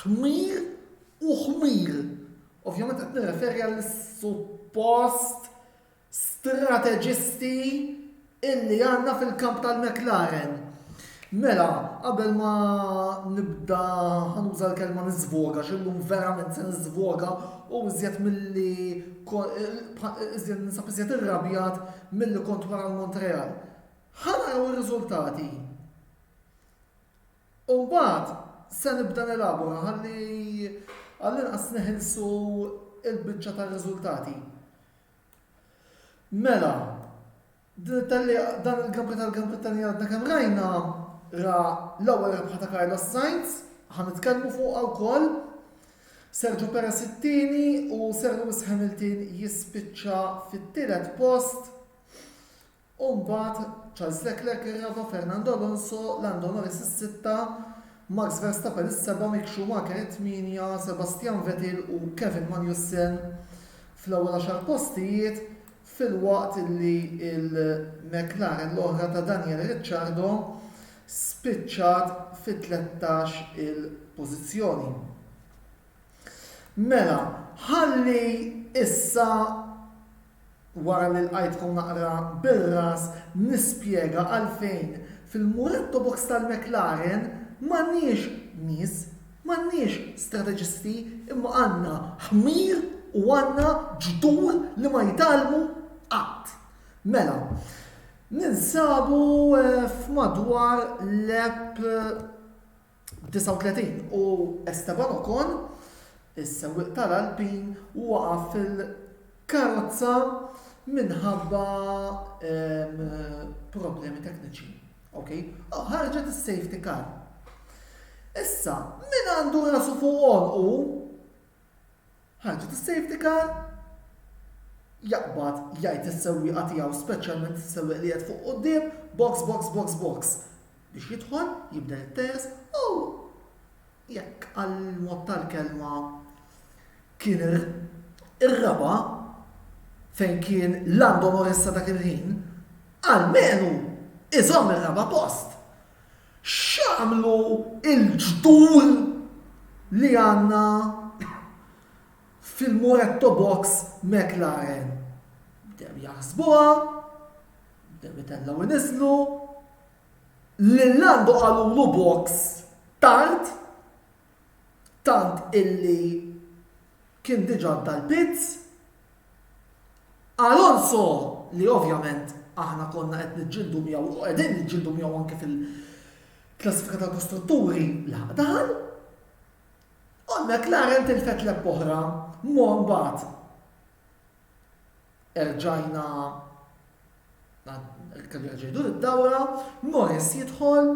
Ħmir u ħmir. Ovvjament qed nirreferi għall-suppost strateġisti illi għandna fil-kamp tal-McLaren. Mela, qabel ma nibda ħanuża l-kelma niżvoga, xillum verament se niżvoga u iżjed milli iżjed nisab iżjed irrabjat milli kont wara l-Montreal. Ħanaraw ir-riżultati. U mbagħad se nibda nelabora ħalli għall-inqas neħilsu l-biċċa tar-riżultati. Mela, din it-tellieqa, dan il-Grand tal-Grand Brittanja li għadna kemm rajna, ra l-ewwel rebħa ta' Carlos Sainz, ħa nitkellmu fuqha wkoll, Sergio Perez it-tieni u Sir Lewis Hamilton jispiċċa fit-tielet post. u mbagħad Charles Leclerc ir-raba' Fernando Alonso, Lando Norris is-sitta, Max Verstappen is-seba' Mick Schumacher it-tmienja, Sebastian Vettel u Kevin Magnussen fl-ewwel għaxar postijiet filwaqt li l-McLaren l-oħra ta' Daniel Ricciardo spiċċat fit-tlettax il pożizzjoni. Mela, ħalli issa Wara li lqajtkom naqra bir-ras nispjega għalfejn fil-muretto box tal-McLaren m'għandniex nies, m'għandniex strateġisti imma għandna ħmir u għandna ġdur li ma jtgħallmu qatt. Mela, ninsabu f'madwar lap. 39 u Esteban Ocon, is-sewwieq tal-Alpine waqa' fil-karozza minħabba problemi tekniċi. Ok? Oh, ħarġet is-safety car. Issa, min għandu rasu fuq u Ħarġet is-safety car, jaqbad jgħid lis-sewwieqa tiegħu speċjalment is-sewwieq li qiegħed fuq quddiem, box, box, box, box biex jidħol, jibda jittehes u jekk għall-mod tal-kelma kien ir-raba' fejn kien Lando Norris sa dak il-ħin, almenu iżomm ir-raba' post. X'għamlu l-ġdul li għandna fil-Moretto Box McLaren? Bdew jaħsbuha, bdew itellgħu iniżżlu, lil Lando qalulu box tard, tant illi kien diġà għadda l-pits, Alonso li ovvjament aħna konna qed niġġieldu miegħu u qegħdin niġġieldu miegħu anke fil-klassifika tal-kostrutturi laħaq daħal. U McLaren tilfet l oħra mon bat. Erġajna kellu ġejdu id-dawra, Morris jidħol,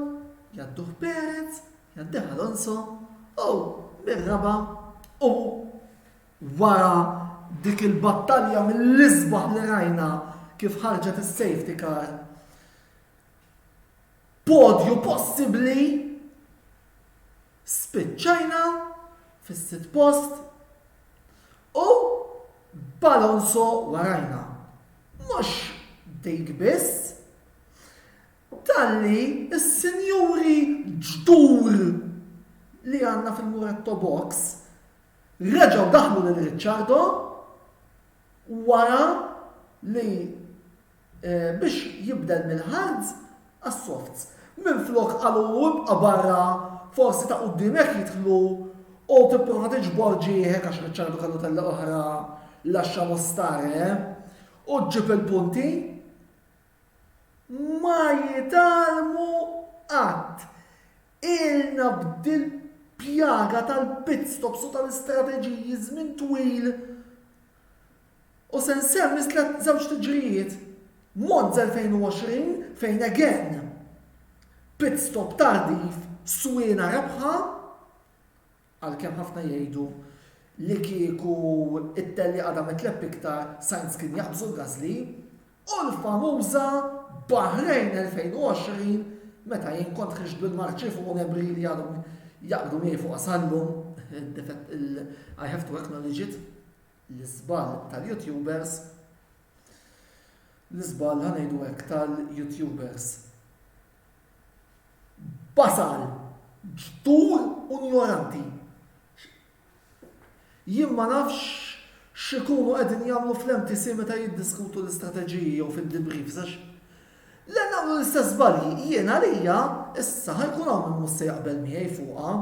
jadduh Perez, jadduh Alonso, u bir-raba u Wara dik il-battalja mill-isbaħ li rajna kif ħarġet is-safety car, podju possibbli, spiċċajna fis-sitt post u b'Alonso warajna. Mhux dik biss, Talli s-sinjuri ġdur li għandna fil-Muretto Box reġgħu daħlu lil Ricciardo wara li biex jibdel mill-hards għas-softs. Minflok qalulu ibqa' barra forsi ta' quddiemek jidħlu u tipprova tiġbor ġieħek għax Ricciardo kellu tellgħa oħra lascia lo stare u ġġib il-punti. ma jitgħallmu qatt. Ilna b'dil-pjaga tal-pitstops u tal-istrateġiji żmien twil u se nsemmi tliet żewġ tiġrijiet. Monza 2020 fejn again, pitstop tardiv, swieqna rebħa, Għalkemm ħafna jgħidu li kieku t-tellieqa damet lepp iktar, Sainz kien jaqbżu l-Gasly u l-famuża Bahrain 2020 meta jien kont ħriġt bil-marċi fuq u nemri li għadhom jaqbdu miegħi fuqha sal-lum, I have to acknowledge it, l-iżball tal-YouTubers, l-iżball ħa ngħidu hekk tal-YouTubers. Basal, ġdur u njoranti. Jien ma nafx x'ikunu qegħdin jagħmlu fl-MTC meta jiddiskutu l-istrateġiji jew fid-debriefs għax le nagħmlu l-istess żbalji. Jien għalija issa ħa jkun hawn min mhux se jaqbel miegħi fuqha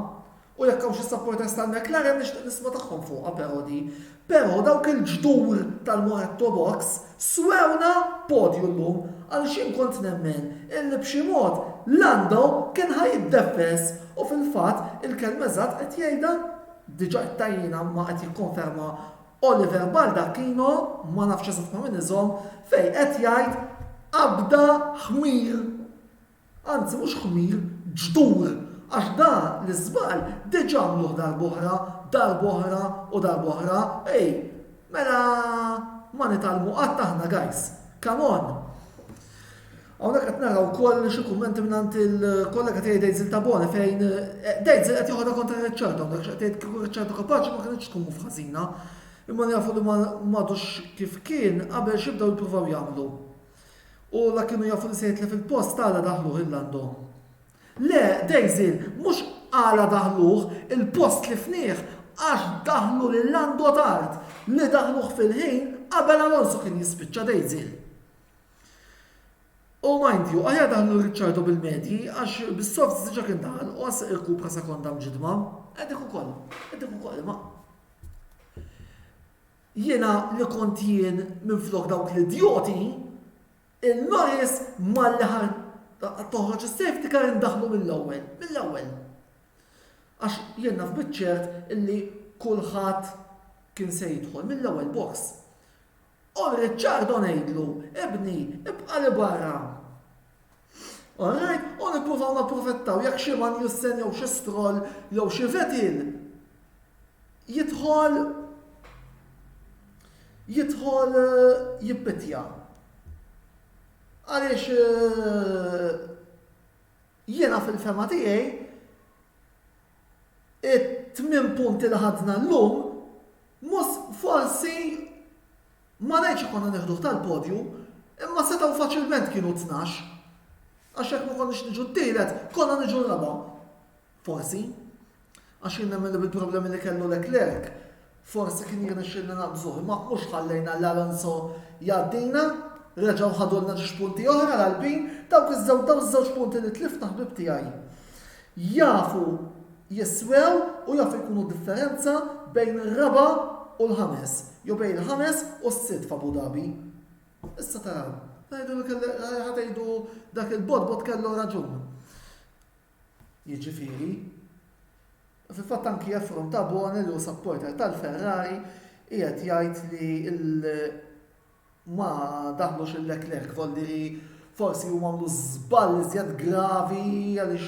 U jekk hawn xi supporters tal-McLaren nixtieq nisma' tagħhom fuqha però di. Però dawk il-ġdur tal-Moretto Box swewna podju llum għaliex jien kont nemmen illi b'xi mod Lando kien ħa jiddefess u fil-fatt il-kelma eżatt qed jgħidha diġà għedtha jien imma qed jikkonferma Oliver Baldacchino, ma nafx eżatt ma' min iżomm, fejn qed jgħid qabda ħmir. Anzi mhux ħmir, ġdur, għax da l-iżball diġa għamluh darb'oħra, darb'oħra u darb'oħra, ej, mela ma nitgħallmu qatt aħna guys, come on! Hawnhekk qed nara wkoll xi kummenti mingħand il-kollega tiegħi Dejzil Tabone fejn eh, Dejzil qed joħodha kontra Riċċardo hawnhekk x'qed tgħid kieku Riċċardo kapaċi ma kinitx tkun mhux ħażina. Imma jafu li m'għadux kif kien qabel x'ibdew jippruvaw jagħmlu. U la kienu jafu li se jitlef il-post għala daħluh il għandhom. Le, Daisy, mhux għala daħluh il-post tlifnieh għax daħlu lil Lando tard, li daħluh fil-ħin qabel Alonso kien jispiċċa Daisy. U mind you, aħjar daħlu Ricciardo bil-medji, għax bis-soft diġa kien daħal, u għas irkupra sekonda mġidma, għedek u koll, għedek u koll, ma. Jiena li kont jien minflok dawk l-idjoti, il-Norris malli ħa toħroġ is-safety car indaħħlu mill-ewwel, mill-ewwel. Għax jien naf biċ-ċert illi kulħadd kien se jidħol mill-ewwel box. U Ricciardo ngħidlu, ibni, ibqa' 'l barra. Alright? U nippruvaw napprofettaw jekk xi man jussen jew xi stroll jew xi vetin jidħol jidħol eh, jippitja. Għaliex eh, jiena fil-fema tiegħi it-tmien punti li ħadna l-lum mus forsi Ma ngħidx konna nieħduh tal-podju, imma setgħu faċilment kienu tnax. Għax jekk ma konniex niġu t-tielet, konna niġu raba'. Forsi. Għax jien nemmen li bil-problemi li kellu Leclerc, forsi kien jirnexxilna naqbżuh, imma mhux ħallejna lil Alonso jgħaddina, reġgħu ħadulna ġiex punti oħra l-Alpin, dawk iż-żewġ punti li tlifna ħbib tiegħi. Jafu jiswew u jafu jkunu d-differenza bejn ir-raba' u l-ħames, jew bejn il-ħames u s-sitt f'Abu Dhabi. Issa taraw, tgħidu li kelli, ħa tgħidu dak il-botbot kellu raġun. Jiġifieri, fil-fatt anki Efron Tabone li hu supporter tal-Ferrari qiegħed jgħid li l- ma daħlux lil Leclerc volli li forsi huma għamlu żball iżjed gravi għaliex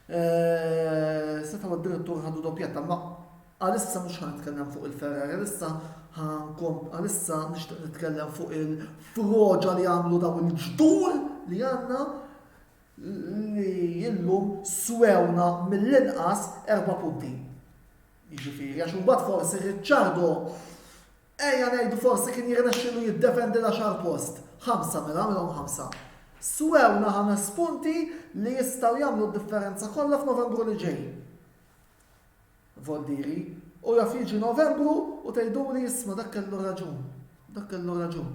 eh, setgħu d-direttur ħadu doppjetta ma għalissa mhux ħan nitkellem fuq il-Ferrari, għalissa ħankom għalissa nixtieq nitkellem fuq il-froġa li għamlu daw il-ġdur li għandna li illum swewna mill-inqas erba' punti. Jiġifieri għax imbagħad forsi Ricciardo Ejja ngħidu forsi kien jirnexxielu jiddefendi l-għaxar post. Ħamsa mela, għamilhom ħamsa. Swewna ħames punti li jistgħu jagħmlu d-differenza kollha f'Novembru li ġej. Voldiri, u jaf jiġi Novembru u tgħiduli isma' dak kellu raġun. Dak kellu raġun.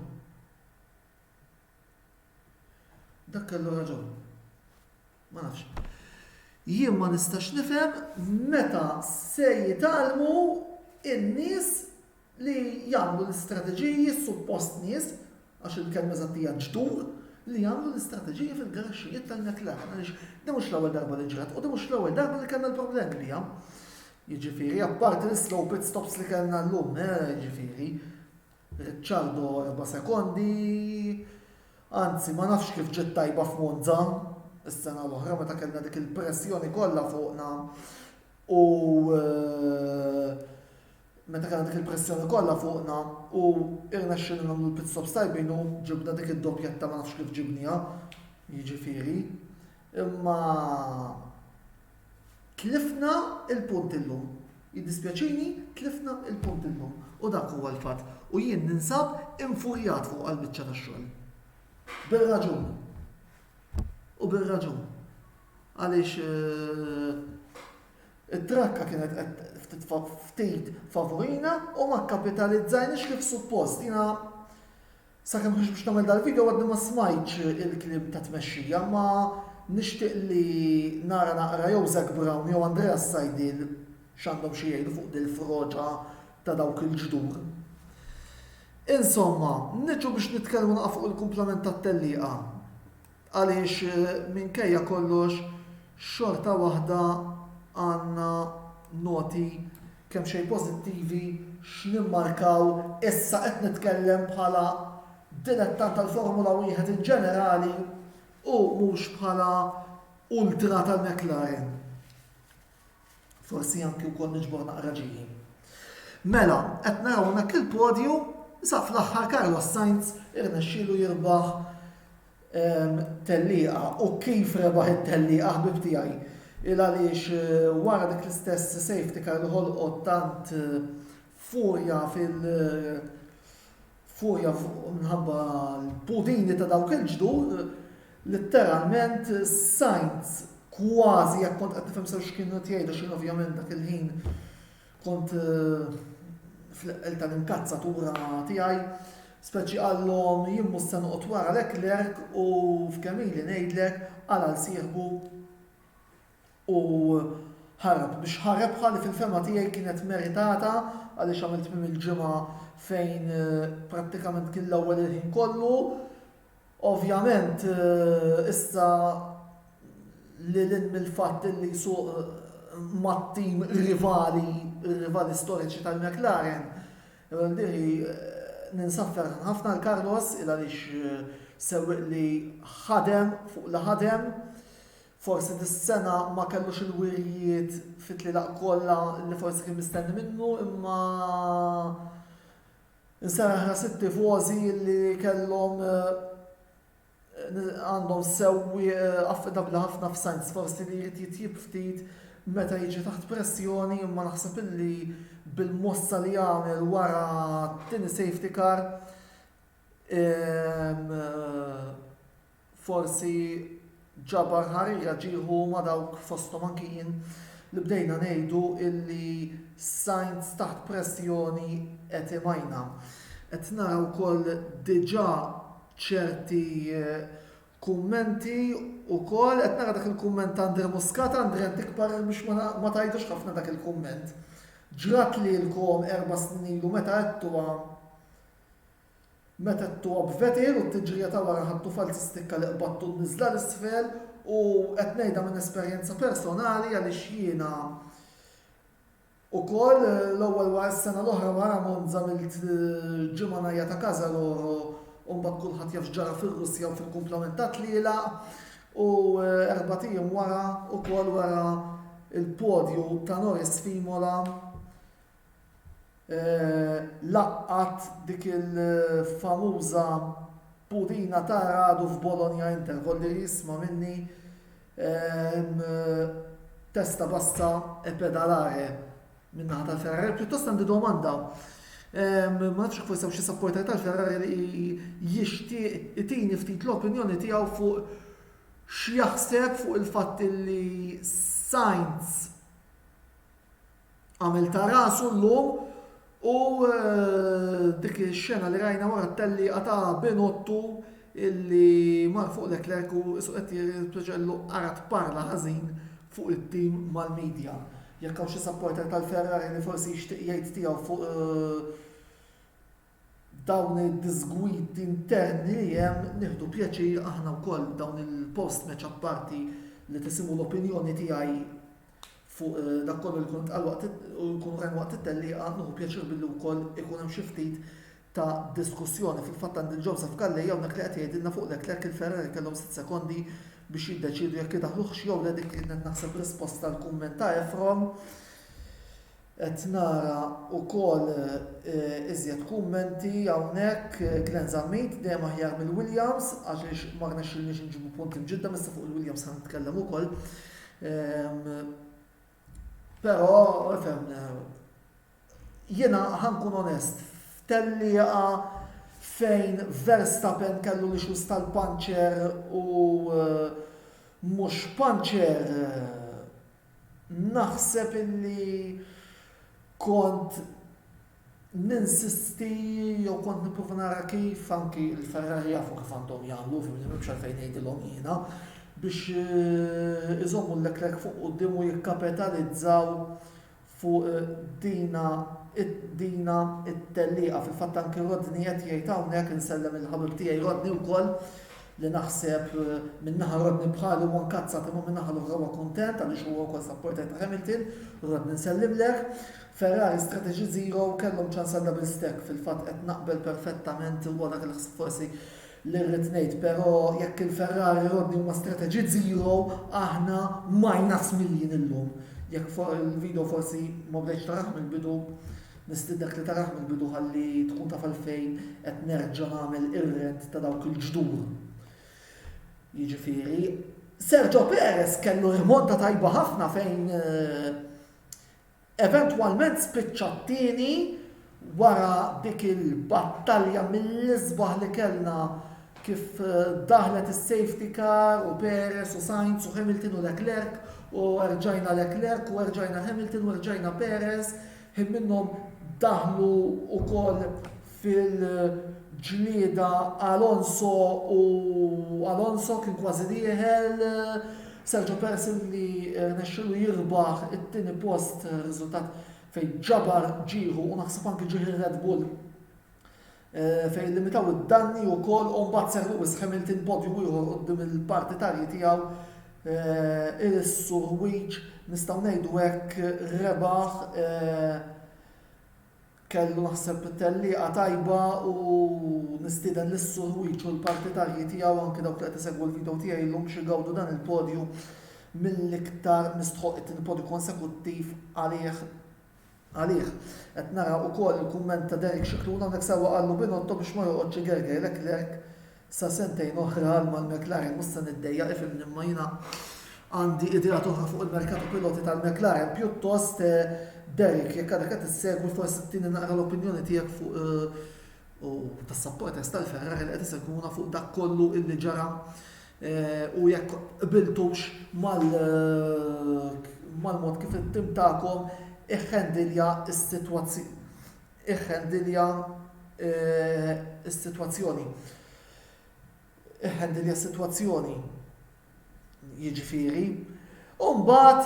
Dak kellu raġun. Ma nafx. Jien ma nistax nifhem meta se jitgħallmu in-nies li jagħmlu l-istrateġiji suppost nies, għax il-kelma eżatt hija ġdur, li jagħmlu l-istrateġiji fil-garaxxijiet tal-McLaren għaliex din mhux l-ewwel darba li ġrat u din mhux l-ewwel darba li kellna l-problemi biha. Jiġifieri, apparti l-slow pit stops li kellna llum, eh, jiġifieri, Ricciardo erba' sekondi, anzi ma nafx kif ġiet tajba f'Monza s-sena l-oħra meta kellna dik il-pressjoni kollha fuqna u meta kellna dik il-pressjoni kollha fuqna u irnexxielna nagħmlu l-pit stops tajbin u ġibna dik id-doppjetta ma nafx kif ġibnieha, jiġifieri, imma Tlifna l-punt illum. Jiddispjaċini, tlifna l-punt illum. U dak huwa l-fatt. U jien ninsab infurjat fuq għall-biċċa tax-xogħol. Bir-raġun. U bir-raġun. Għaliex it-trakka kienet qed ftit favurina u ma kkapitalizzajniex kif suppost. Jiena Sakemm ħriġt biex nagħmel dal-video għadni ma smajtx il-kliem ta' tmexxija imma nixtieq li nara naqra jew Zac Brown jew Andrea Saidil x'għandhom xi jgħidu fuq dil-froġa ta' dawk il-ġdur. Insomma, niġu biex nitkellmu naqgħa fuq il-kumplament tat-tellieqa. Għaliex minkejja kollox xorta waħda għandna noti kemmxejn pożittivi x'nimmarkaw, issa qed nitkellem bħala dilettant tal-Formula Wieħed in ġenerali u mhux bħala ultra tal-McLaren. Forsi anki wkoll niġbor naqra ġiehim. Mela, qed naraw hawnhekk il-podju, sa fl-aħħar Carlos Sainz irnexxielu jirbaħ ehm, tellieqa u kif rebaħ it-tellieqa ħbib tiegħi. Il għaliex eh, wara dik l-istess safety car li ħolqot tant eh, Furja fil furja minħabba l-pudini ta' dawk il-ġdur, litteralment sajnt kważi jekk kont qed nifhem sew x'kienu qed jgħidu x'jien ovvjament dak il-ħin kont fl-eqqel tal-inkazzatura tiegħi, speċi qallhom jien mhux se noqgħod wara Leclerc u f'kemm ili ngħidlek għala nsieħbu u ħarab biex ħa rebħa li fil-fehma tiegħi kienet meritata għaliex għamel tmiem il-ġimgħa fejn prattikament kien l-ewwel il-ħin kollu. Ovvjament issa lil hinn mill-fatt li jsuq mat-tim rivali, rivali storiċi tal-McLaren, ninsab ferħan ħafna għal Carlos il għaliex sewwieq li ħadem fuq li ħadem Forsi dis-sena ma kellux il-wirjiet fit-tlielaq kollha li forsi kien mistenni minnu imma nserraħ ras it-tifożi li kellhom għandhom sewwieq affidabbli ħafna f'Sainz. Forsi li jrid jitjieb ftit meta jiġi taħt pressjoni imma naħseb illi bil-mossa li għamel wara t-tieni safety car forsi ġabar ħarira ġieħu ma' dawk, fosthom anki jien, li bdejna ngħidu illi Sainz taħt pressjoni qed imajna. Qed nara wkoll diġà ċerti kummenti wkoll, qed nara dak il-kumment ta' Andre Muscat, Andre int ikbar biex ma tgħidux ħafna dak il-kumment. Ġrat lilkom erba' snin ilu meta għedtuha. Meta t-top vetir u t-tiġrija ta' wara ħabtu falz istikka li qbadtu n-niżla 'l isfel u qed ngħidha minn esperjenza personali għaliex jiena ukoll l-ewwel wara s-sena l-oħra wara Monza milt ġimgħa ngħajjat a casa loro u mbagħad kulħadd jaf x'ġara fir-Russja u fil-kumplament tat-tlielaq u erbat ijiem wara ukoll wara l-podju ta' Norris f'Imola Laqgħat dik il-famuża purina ta' Radu f'Bologna Inter, kolli jisma' minni testa bassa e pedalare min-naħa tal-Ferrari. Pjuttost għandi domanda. Ma nafx forsi hawn xi sapporter tal-Ferrari li jixtieq itini ftit l-opinjoni tiegħu fuq x'jaħseb fuq il-fatt li Sainz Għamel ta' rasu llum u dik ix-xena li rajna wara t-tellieqa ta' Binottu illi mar fuq Leclerc u isu qed jirtpiġellu ara tparla ħażin fuq it-tim mal-media. Jekk hawn xi supporter tal-Ferrari li forsi jixtieq jgħid tiegħu fuq dawn id-disgwid interni li hemm nieħdu pjaċir aħna wkoll dawn il-post match apparti li tisimgħu l-opinjoni tiegħi fuq eh, dak kollu li kun tqal waqt u jkunu hemm waqt it-tellieqa nieħu pjaċir billi wkoll ikun hemm xi ftit ta' diskussjoni fil-fatt għand il-Joseph Kallej hawnhekk li qed jgħidilna fuq Leclerc il-Ferrari kellhom sitt sekondi biex jiddeċiedu jekk idaħluħx jew le dik kienet naħseb risposta tal-kumment ta' Efron. Qed nara wkoll iżjed kummenti hawnhekk, Glenn Zammit, dejjem aħjar mill-Williams għaliex ma rnexxilniex inġibu punti mġiddem, issa fuq il-Williams ħa nitkellem ukoll. Però ifhem jiena ħa nkun onest, f'tellieqa fejn Verstappen kellu l-issues tal-puncher u mhux puncher, Naħseb illi kont ninsisti jew kont nipprova nara kif anki l-Ferrari jafu kif għandhom jagħmlu, fimni m'hemmx għalfejn ngħidilhom jiena, biex eh, iżommu l-Leclerc fuq quddiem u jikkapitalizzaw fuq dina dina t-tellieqa. Fil-fatt anki Rodney qed jgħid hawnhekk, insellem il-ħabib tiegħi Rodney wkoll, li naħseb minn naħa Rodney bħali huwa nkazzat imma min-naħa l-oħra huwa kuntent għaliex huwa wkoll supporter ta' Hamilton, Rodney nsellimlek. Ferrari Strategy Zero kellhom ċans għal double stack, fil-fatt qed naqbel perfettament huwa dak il-ħsieb forsi Li rrid ngħid però jekk il-Ferrari Rodney huma strateġiet zero aħna minus miljin illum. Jekk for il-video forsi ma bdejtx tarah mill-bidu nistiednek li tarah mill-bidu ħalli tkun taf għalfejn qed nerġa' nagħmel ir-rent ta' dawk il-ġdur. Jiġifieri Sergio Perez kellu rimonta tajba ħafna fejn Eventwalment spiċċa t-tieni wara dik il-battalja mill-isbaħ li kellna kif daħlet is-safety car u Perez u Sainz u Hamilton u Leclerc u erġajna Leclerc u erġajna Hamilton u erġajna Perez, ħin minnhom daħlu wkoll fil-ġlieda Alonso u Alonso kien kważi dieħel, Sergio Perez illi rnexxielu jirbaħ it-tieni post riżultat fejn ġabar ġieħu u naħseb anki ġieħ ir-Red Bull fejn illimitaw id-danni wkoll u mbagħad seħħ Lewis Hamilton podju ieħor quddiem il-partitarji tiegħu irissu ħwieġ nistgħu ngħidu hekk rebaħ Kellu naħseb tellieqa tajba u nistieden lis-Suħwieġ u l-partitarji tiegħu anki dawk li qed isegwu l-video tiegħi llum biex igawdu dan il-podju mill-iktar mistħoqq it-tieni podju konsekuttiv għalih għalih. Qed nara ukoll il-kumment ta' Derek Scicluna hawnhekk sewwa qallu Binotto biex ma joqgħodx igerger Leclerc Sa sentejn oħra għal mal-McLaren mhux se niddejjaq ifhimni imma jiena għandi ideat oħra fuq il-merkat u piloti tal-McLaren pjuttost Derek jekk għadek qed issegwi forsi tini naqra l-opinjoni tiegħek fuq u tas-supporters tal-Ferrari li qed isegwuna fuq dak kollu illi ġara eh, u jekk qbiltux mal-mod kif it-tim tagħkom iħħendilja s-sitwazzjoni. Iħħendilja s-sitwazzjoni. Iħħendilja s-sitwazzjoni. Jiġifieri. U mbagħad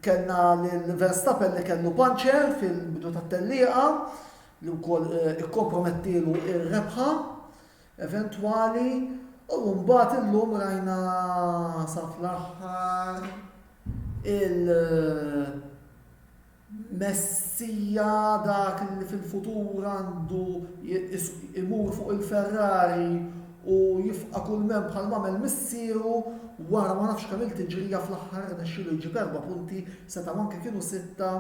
kellna lil Verstappen li kellu panċer fil-bidu tat-tellieqa li wkoll eh, ikkompromettilu ir-rebħa eventwali u mbagħad illum rajna sa fl-aħħar il- Messija dak li fil-futur għandu jmur fuq il-Ferrari u jifqa' kull mem bħalma għamel missieru wara ma nafx kemm-il tiġrija fl-aħħar rnexxielu jġib erba' punti, setgħu anke kienu sitta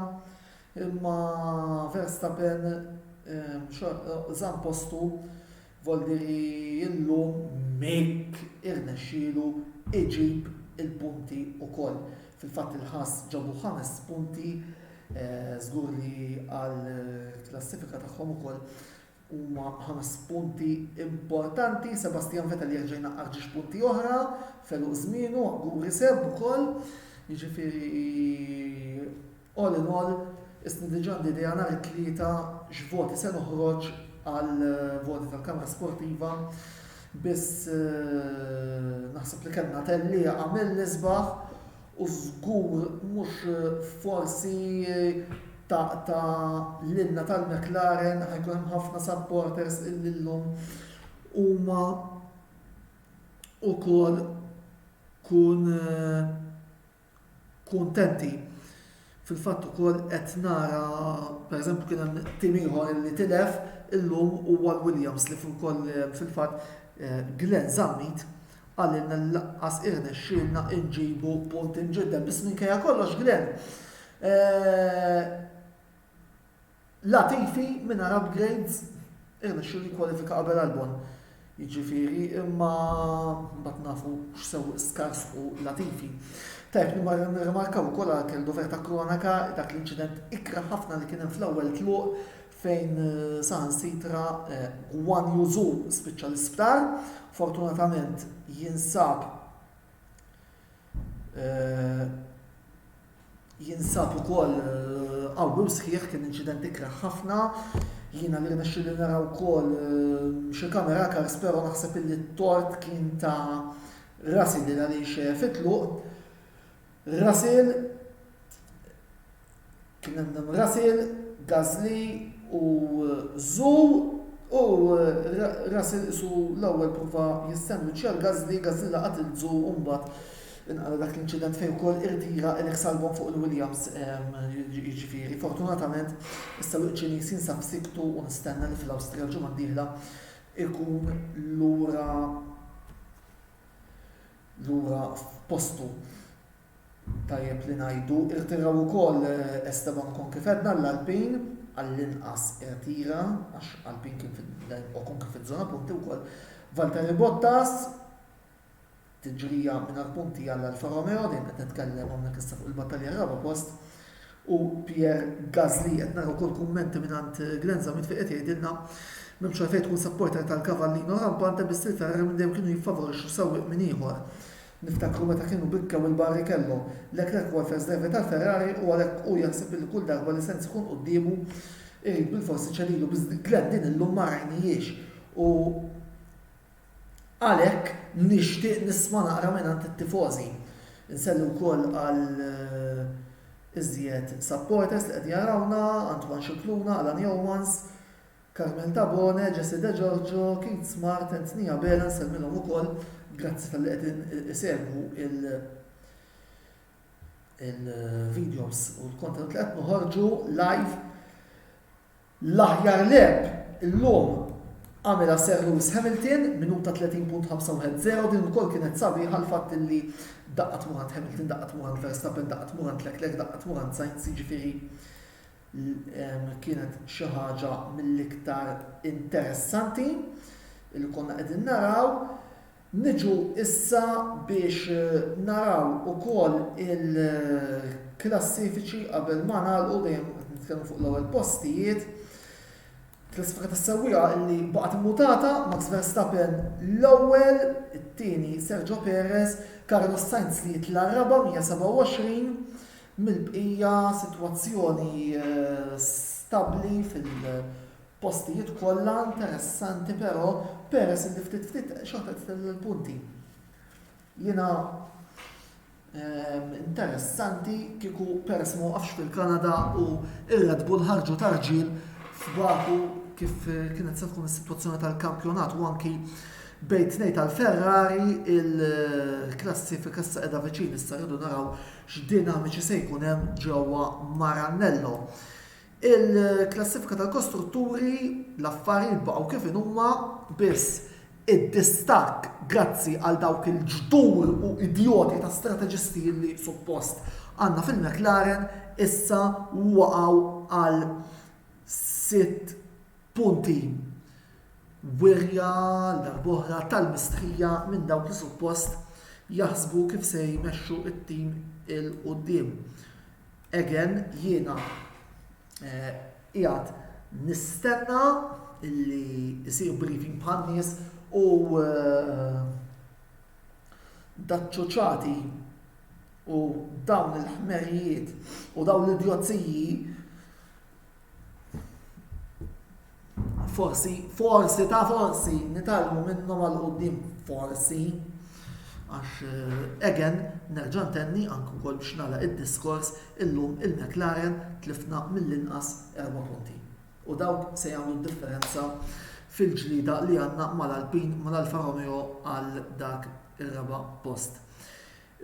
imma Verstappen żamm postu. Voldi li llum Mick irnexxielu iġib il-punti wkoll. Fil-fatt il-Ħass ġabu ħames punti, żgur li għall-klassifika tagħhom ukoll huma ħames punti importanti. Sebastian Vettel jerġa' jnaqqar ġiex punti oħra f'għeluq żmienu, Guri Seb ukoll. Jiġifieri All in all, isni diġa għandi idea nhar it-Tlieta x'voti se noħroġ għal voti tal-Kamra Sportiva biss naħseb li kellna tellieqa mill-isbaħ u żgur mhux forsi taqta' lilna tal-McLaren ħa jkun hemm ħafna supporters illi llum huma ukoll kun kuntenti. Fil-fatt ukoll qed nara pereżempju kien hemm tim ieħor li tilef illum huwa l-Williams li wkoll fil-fatt Glenn Zammit qalilna li lanqas irnexxielna nġibu punt imġidded biss minkejja kollox Glenn Latifi mingħajr upgrades irnexxielu jikkwalifika qabel Albon jiġifieri imma mbagħad nafu x'sewwieq skars hu Latifi. Tajjeb nirrimarkaw ukoll għal Kell Dover ta' Kronaca dak l-inċident ikrah ħafna li kien hemm fl-ewwel tluq fejn saħansitra Guan Yu Zhu spiċċa l-isptar. Fortunatament jinsab Jinsab ukoll qawwi u sħiħ kien inċident ikrah ħafna. Jiena li rnexxieli nara wkoll xi camera cars però naħseb illi t-tort kien ta' Russell li għaliex fit-tluq Russell Kien hemm Naomi Russell, Gasly u Zhu u Russell qisu l-ewwel prova jistennu Charles Gasly, Gasly laqat lil Zhu u mbagħad inqala dak l-inċident fejn ukoll irtira Alex Albon fuq il-Williams jiġifieri. Fortunatament issa l Ċiniż jinsab siktu u nistenna li fl-Awstrija l-ġimgħa d-dieħla jkun lura lura f'postu. tajjeb li ngħidu, irtiraw ukoll Esteban Ocon kif għedna l-Alpine, għall-inqas irtira għax Alpine kien fil-lejn Ocon kien fiż-żona punti wkoll, Valtteri Bottas, tiġrija mingħajr punti għal Alfa Romeo, dejjem qed nitkellem hawnhekk issa fuq il-battalja għar-raba' post, u Pierre Gasly, qed nara wkoll kummenti mingħand Glenn Zammit fejn qed jgħidilna m'hemmx għalfejn tkun supporter tal-Cavallino rampant hemm biss il-Ferrari minn dejjem kienu jiffavorixxu sewwieq minn ieħor. Niftakru meta kienu bikkew il-Barrichello, Leclerc huwa l-first driver tal-Ferrari u għalhekk hu jaħseb li kull darba li Sainz ikun quddiemu irid bilfors iċedilu biss Glenn din illum ma rajnihiex u għalhekk nixtieq nisma' naqra mingħand it-tifożi. Insellu wkoll għal iżjed supporters li qed jarawna, Antoine Scicluna, Alan Yeomans, Carmel Tabone, Jessie De Giorgio, Keith Smart, Anthony Abela nsellmilhom ukoll grazzi talli qegħdin isegwu il-videos u l-kontenut li qed noħorġu live. L-aħjar leb illum għamilha Sir Lewis Hamilton minuta 30.510 din ukoll kienet sabiħa l-fatt li daqqat murant Hamilton, daqqat murant Verstappen, daqqat murant Leclerc, daqqat murant Sainz, jiġifieri Kienet xi ħaġa mill-iktar interessanti li konna qegħdin naraw. Niġu issa biex naraw ukoll il-klassifiċi qabel ma nagħlqu dejjem qed nitkellmu fuq l-ewwel postijiet. Klassifika tas-sewwieqa li baqgħet immutata, Max Verstappen l-ewwel, it-tieni Sergio Perez, Carlos Sainz li jitla' raba' 127, mill-bqija sitwazzjoni stabbli fil-postijiet kollha interessanti però peress li ftit ftit xorta qed titella' l-punti. Jiena interessanti kieku peress ma waqafx fil-Kanada u ir-Red Bull ħarġu ta' rġiel f'Baku kif kienet se tkun is-sitwazzjoni tal-kampjonat u anki bejn tnejn tal-Ferrari il-klassifika issa qiegħda viċin issa rridu naraw X'dinamiċi se jkun hemm ġewwa Maranello? Il-klassifika tal-kostrutturi, l-affarijiet baqgħu kif inhuma, biss id-distakk grazzi għal dawk il-ġdur u idjoti ta' strateġisti li suppost għandna fil-McLaren issa waqgħu għal sitt Punti, Wirja, għal darb'oħra, tal-mistħija minn dawk li suppost jaħsbu kif se jmexxu t-tim 'il quddiem. Again, jiena qiegħed nistenna li jsir briefing bħan-nies u daċ-ċuċati u dawn il-ħmerijiet u dawn l-idjozziji Forsi, forsi ta' forsi nitalmu minnhom għal qudiem forsi. Għax eh, again, nerġa' ntenni anke wkoll biex nara id-diskors illum il-McLaren tlifna mill-inqas erba' punti. U dawk se jagħmlu differenza fil-ġlida li għandna mal-Alpin mal-Alfa Romeo għal dak ir-raba' post.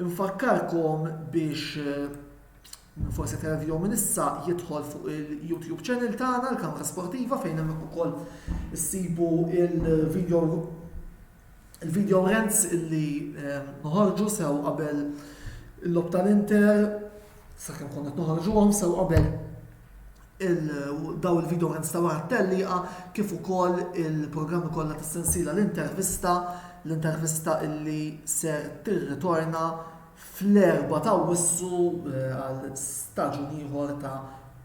Infakkarkom biex eh, Min forsi qed jara l-video minn issa jidħol fuq il-YouTube channel tagħna l-Kamra Sportiva fejn hemmhekk ukoll issibu il-video il-video rents illi ehm, noħorġu sew qabel il-lob tal-Inter sakemm konna qed noħorġuhom sew qabel daw il-video rents ta' wara t-telliqa kif ukoll il-programmi kollha tas-sensiela l-intervista l-intervista illi ser tirritorna fl-Erbgħa ta' Awwissu għal staġun ieħor ta'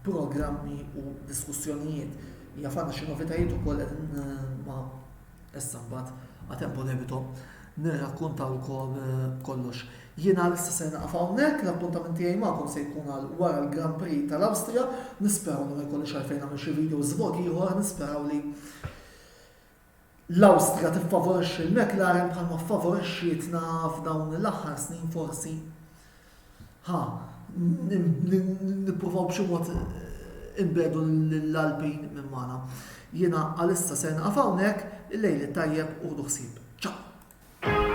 programmi u diskussjonijiet. Jaf għandna xi novitajiet ukoll qegħdin ma issa mbagħad a tempo debito nirrakkuntawkom kollox. Jien għalissa ser naqaf hawnhekk, l-appuntament tiegħi magħkom se jkun għal wara l-Grand Prix tal-Awstrija, nisperaw li ma jkollix għalfejn nagħmel xi video żvog ieħor, nisperaw li L-Awstrija tiffavorixxi l-McLaren bħalma ffavorixxietna f'dawn l-aħħar snin forsi. Ħa nippruvaw b'xi mod inbegħdu lill-Alpin minn magħna. Jiena għalissa ser nieqaf hawnhekk, il-lejl it-tajjeb u ħdu ħsieb. Ciao!